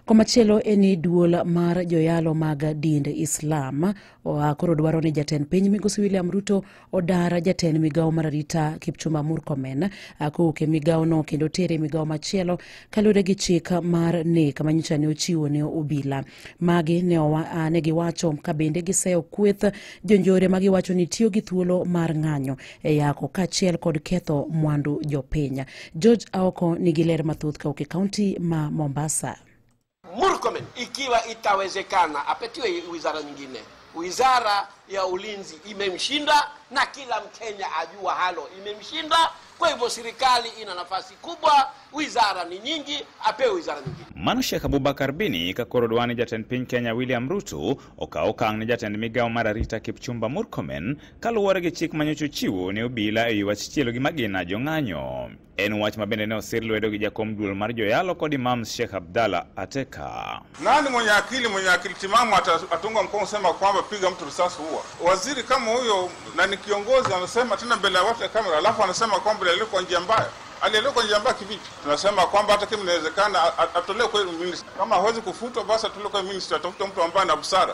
Komachielo en ni duol mar joyalo mag dind Islam oa koro dwaro ni jatend piny migosi William Ruto odar jatend migawo mar arita Kipchumba Murkomen kowuok e migawono kendo tere migawo machielo kaluwore gi chik mar nek manyicha ne ochiwo ne obila. Magi ne, owa, ne giwacho ka bende giseyo kweth jonjore ma giwacho ni tiyo gi thuolo mar ng'anyo e yako kaachiel kod ketho mwandu jopiny. George Aoko nigi ler mathoth kawuok e kaunti ma Mombasa. Murkomen ikiwa itawezekana apatiwe wizara nyingine. Wizara ya ulinzi imemshinda na kila Mkenya ajua halo imemshinda. Kwa hivyo serikali ina nafasi kubwa, wizara ni nyingi, apewe wizara nyingine. Mano Sheikh Abubakar Bini ka koro dwani jatend piny Kenya William Ruto okaw okang' ne jatend migawo mar arita Kipchumba Murkomen Kaluwore gi chik ma nyocha ochiwo ne obila e wi wach chielo gi magina jong'anyo, en wach ma bende ne osir lwedo gi jakom duol mar joyalo kod Imam Sheikh Abdalla Ateka. Nani mwenye akili mwenye akili timamu atatunga mkono sema kwamba piga mtu risasi huwa waziri kama huyo, na ni kiongozi anasema tena mbele ya watu ya kamera, alafu anasema kwamba leo kwa njia mbaya alielewa kwa njia mbaya kivipi? Tunasema kwamba hata kama inawezekana atolewe kwa ministry, kama hawezi kufutwa basi atolewe kwa ministry, atafute mtu ambaye ana busara.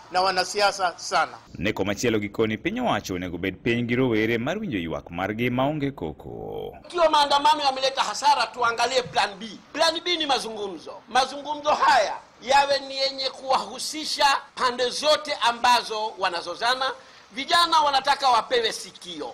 na wanasiasa sana. Ne komachielo gikoni piny owacho onego bed piny gi rowere mar winjo ywak margi maonge koko. Ikiwa maandamano yameleta hasara, tuangalie plan B. Plan B ni mazungumzo. Mazungumzo haya yawe ni yenye kuwahusisha pande zote ambazo wanazozana. Vijana wanataka wapewe sikio,